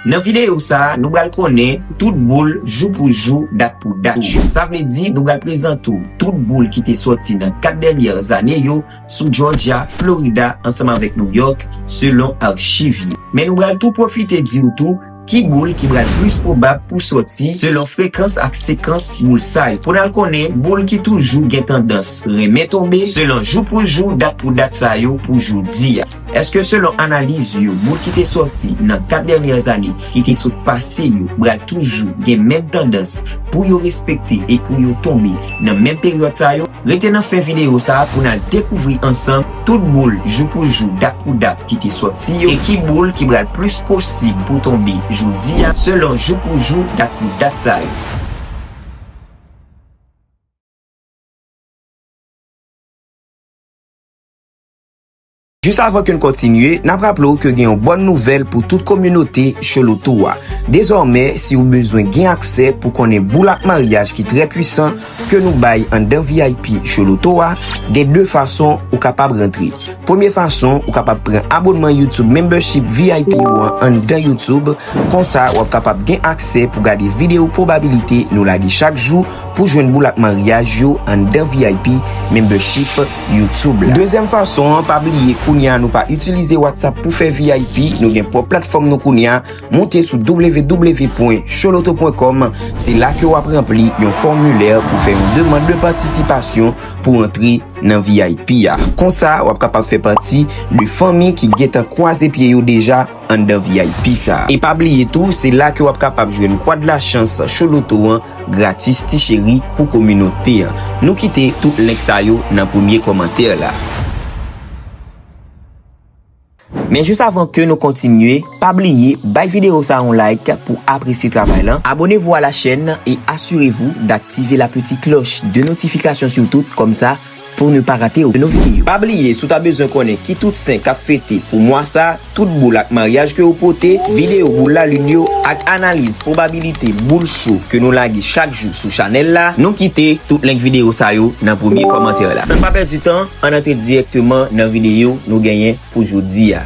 Nan videyo sa nou bal konnen tout boul jou pou jou dat pou dat yo sa vle di nou bal prezante w tout boul ki te soti nan 4 dènyè zane yo sou Jòjya, Florida ansanm avèk New York selon archiv yo. Men nou bal tou pwofite di w tou ki boul ki bal plis pwobab pou soti selon frekans ak sekans boul sa yo. Poun al konnen boul ki toujou gen tandans renmen tonbe selon jou pou jou dat pou dat sa yo pou jodi a. Eske selon analiz yo moun ki te sòti nan 4 dènyè ane ki te sot pase yo pral toujou gen menm tandans pou yo respekte e pou yo tonbe nan menm peryòd sa yo? Rete nan fen videyo sa pou n al dekouvri ansanm tout boul jou pou jou dat pou dat ki te sòti yo e ki boul ki pral plis posib pou tonbe jodi a selon jou pou jou dat pou dat sa yo. Jis avan ke n kontinye, n ap raple w ke gen yon bòn nouvèl pou tout kominote Cholotou a. Dezòmè, si ou bezwen gen aksè pou konnen boul ak maryaj ki trè pwisan ke nou bay anndan vip Choloto a, gen 2 fason ou kapab rantre. Premye fason, ou kapab pran abonnman YouTube Membership vip ou an anndan YouTube, konsa w ap kapab gen aksè pou gade video pwobabilite nou lage chak jou pou jwenn boul ak maryaj yo anndan vip Membership. YouTube la. Dezyèm fason an, pa bliye kounye a nou pa itilize WhatsApp pou fè vip, nou gen pwòp platfòm nou kounye a, moute sou www.choloto.com, se la ke wap ranpli yon fòmilè pou fè yon demand de patisipasyon pou antre nan vip a. Konsa wap kapab fè pati de fanmi ki gentan kwaze pye yo deja anndan vip sa. E pa bliye tou, se la ke wap kapab jwenn Kwad Lachans Choloto an. Gratis ti cheri pou kominote an. Nou kite tout link sa yo nan premye kòmantè la. Men jis avan ke nou kontinye, pa bliye bay video sa yon like pou apresye travay lan, abonnez-vous à la chaîne et assurez-vous d'activer la petite cloche de notification surtout, kòmsa. Pou ne pa rate okenn video. Pa bliye si w ta bezwen konnen ki tout sen kap fete pou mwa sa, tout boul ak maryaj ke yo pote, video boul lalin yo ak analiz pwobabilite boul cho ke nou lage chak jou sou chanèl la, nou kite tout link video sa yo nan premye kòmantè la. San pa pèdi tan, ann antre dirèkteman nan video nou genyen pou jodi a.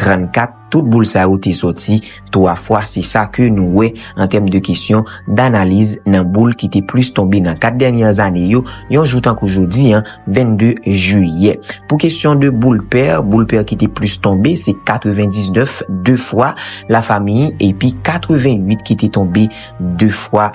34, Tout boul sa yo te sòti 3 fwa, se sa ke nou wè an tèm de kesyon danaliz nan boul ki te plis tonbe nan 4 dènyè zane yo, yon jou tankou jodi an, 22 jiyè. Pou kesyon de boul pè, boul pè ki te plis tonbe se 99, 2 fwa, Lafamiy, epi 88 ki te tonbe 2 fwa,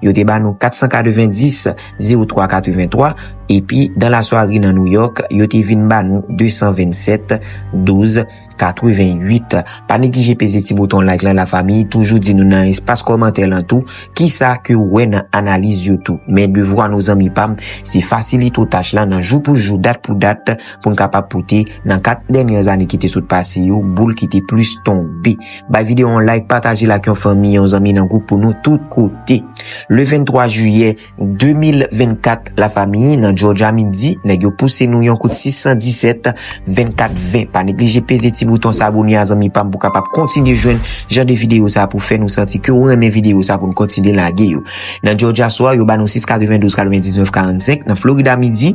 Yo te ba nou 490, 03 83, epi dan la swari nan Nouyòk, yo te vin ba nou 227, 12 88. Pa neglije peze ti bouton like lan la famiy, toujou di nou nan espas kòmantè lan tou, kisa ke ou wè nan analiz yo tou. Men devwa nou zanmi pam, se fasilite ou tach lan nan jou pou jou, dat pou dat, pou n kapab pote nan 4 dènyè ane ki te sot pase yo, boul ki te plis tonbe. Bay video yon like, pataje l ak yon fanmi, yon zanmi nan gwoup pou nou tout kote. Le 23 jiyè 2024, la famiy nan Georgia midi, nèg yo pouse nou yon kout 617 24 20. Pa neglije peze ti bouton s'abonner a zanmi pam pou kapab kontinye jwenn jan de video sa pou fè nou santi ke ou renmen video sa pou nou kontinye lage yo. Nan Georgia swa, yo ba nou 6 92 99 45, nan Florida midi,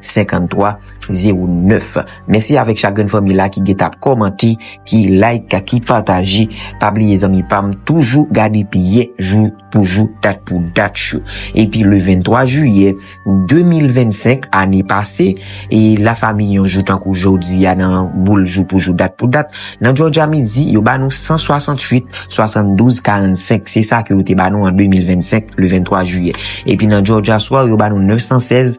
53 09 Mèsi avèk chak grenn fanmi la ki geta kòmante, ki like, ki pataje. Pa bliye zanmi pa m toujou gade piye jou pou jou, dat pou dat yo. Epi le 23 jiyè 2025 ane pase, e la fami yon jou tankou jodi a nan boul jou pou jou dat pou dat, nan Jòjya midi yo ba nou 168 72 45 se sa ke yo te ba nou an 2025 le 23 jiyè. Epi nan Jòjya swa yo ba nou 916.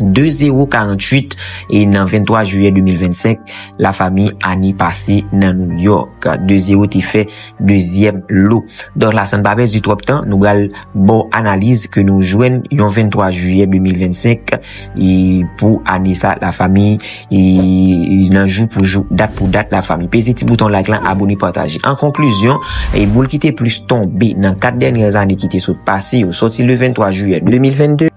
2 0 48 e nan 23 jiyè 2025 la fami Annie pase nan New York 2 0 te fè dezyèm lo donk la san pa pèdi twòp tan nou bal baw analiz ke nou jwenn yon 23 jiyè 2025 e pou ane sa la fami e nan jou pou jou dat pou dat la fami peze ti bouton like lan abone pataje an konklizyon e boul ki te plis tonbe nan 4 dènyè zane ki te sot pase yo soti le 23 jiyè 2022.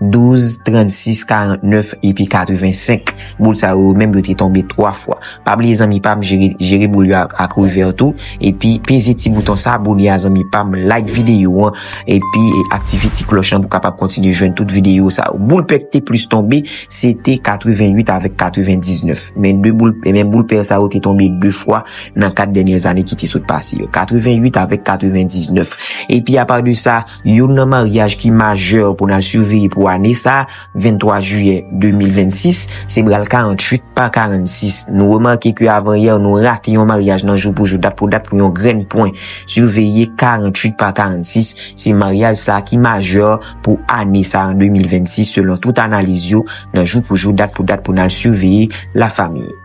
12, 36, 49 epi 85. Boul sa yo menm yo te tonbe 3 fwa. Pa bliye zanmi pam jere boul yo ak reverb tou. Epi peze ti bouton sa abone a zanmi pam. Like videyo an. Epi aktive ti kloch lan pou kapab kontinye jwenn tout videyo sa yo. Boul pè ki te plis tonbe se te 88 avèk 99. Men boul pè sa yo te tonbe 2 fwa nan 4 dènyè zane ki te sot pase yo. 88 avèk 99. Epi apar de sa. Youn nan maryaj ki majè pou n al siveye pou ane sa, 23 jiyè 2026, se bral 48 pa 46. Nou remake ke avanyè nou rate yon maryaj nan jou pou jou, dat pou dat pou yon grenn pwen. Siveye 48 pa 46, se maryaj sa ki majè pou ane sa an 2026 selon tout analiz yo nan jou pou jou, dat pou dat pou n al siveye la famiy.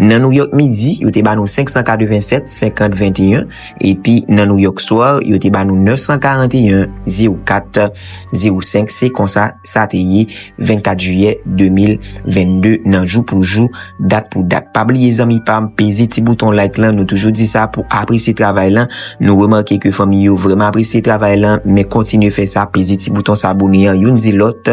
Nan Nouyòk midi, yo te ba nou 587, 50, 21, epi nan Nouyòk swa, yo te ba nou 941, 04, 05, se konsa sa te ye 24 jiyè 2022 nan jou pou jou, dat pou dat. Pa bliye zanmi pam, peze ti bouton like lan, nou toujou di sa pou apresye travay lan, nou remake ke fanmi yo vreman apresye travay lan, men kontinye fè sa, peze ti bouton sa abone an, youn di lòt.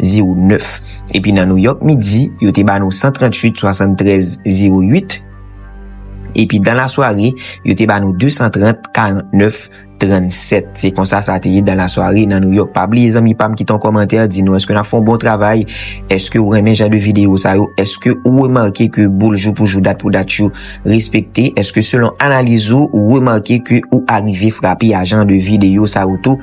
09. Epi nan New York midi, yo te ba nou 138 73 08. Epi dan la sware, yo te ba nou 230 49 37. Se konsa sa te ye dan la sware nan New York. Pa bliye zanmi pam ki ton komantè di nou eske nan fon bon travay, eske ou renmen jan de video sa yo, eske ou remake ke boul jou pou jou dat pou dat yo respekte, eske selon analiz ou, ou remake ke ou arive frape a jan de video sa yo tou.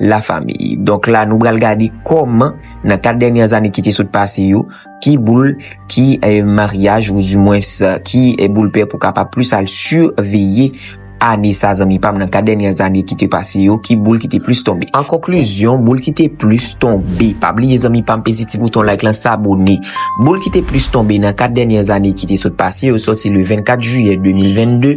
la famille. Donk la nou bral gade kòman nan 4 dènyè ane ki te sot pase yo, ki boul, ki maryaj ou di mwens ki boul pè pou kapab plis al siveye ane sa zanmi pam nan 4 dènyè ane ki te pase yo, ki boul ki te plis tonbe. An konklizyon, boul ki te plis tonbe, pa bliye zanmi pam peze ti bouton like lan sabone, boul ki te plis tonbe nan 4 dènyè ane ki te sot pase yo sòti le 24 jiyè 2022,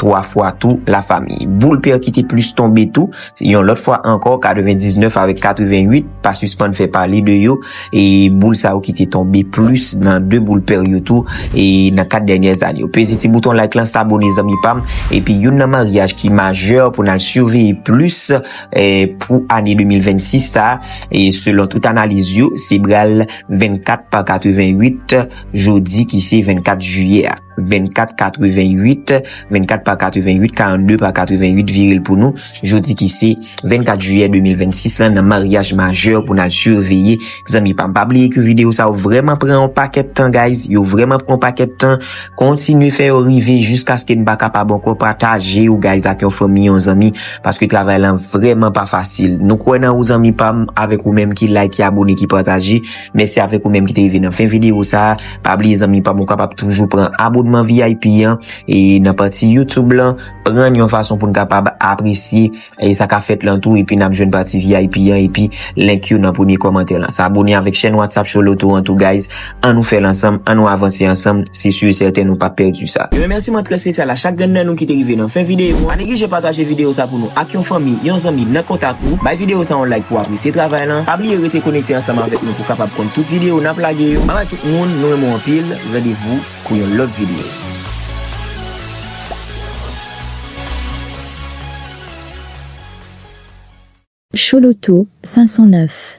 3 fwa tou la fami. Boul pè ki te plis tonbe tou, yon lòt fwa ankò 99 avèk 88 pa sispann fè pale de yo e boul sa yo ki te tonbe plis nan 2 boul pè yo tou e nan 4 dènyè zane yo. Peze ti bouton like lan sabone zanmi pam epi youn nan maryaj ki majè pou nan siveye plis pou ane 2026 sa e selon tout analiz yo se bral 24 pa 88 jodi ki se 24 jiyè a. 24 88 24 pa 88 42 pa 88 viril pou nou jodi ki se 24 juyè 2026 lan nan maryaj majè pou nan surveye zanmi pam pa bliye ke video sa ou vreman pran an paket tan guys yo vreman pran an paket tan kontinye fè yo rive jiskaske n pa kapab anko pataje yo guys ak yon fanmi yon zanmi paske travay lan vreman pa fasil nou kwen nan ou zanmi pam avek ou menm ki like ki abone ki pataje mèsi avek ou menm ki te rive nan fen video sa. Pa bliye zanmi pam ou kapab toujou pran abonman vip an e nan pati youtube lan prann yon fason poun kapab apresye e sa ka fèt lan tou epi nap jwenn pati vip an epi link yo nan premye kòmantè lan sa abone avèk chèn whatsapp show loto an tou guys an nou fèl ansanm an nou avanse ansanm se sur et certain nou pap pèdi sa. Yon remèsiman trè spesyal a chak grenn nan nou ki te rive nan fen videyo a. Pa neglije pataje videyo sa pou nou ak yon fanmi, yon zanmi nan kontak ou. Bay videyo sa yon like pou apresye travay lan. Pa bliye rete konekte ansanm avèk nou. Ou kapab konn tout video nap lage yo. Bye bye tout moun nou renmen w anpil randevou pou yon lot video. Chouloutou 509.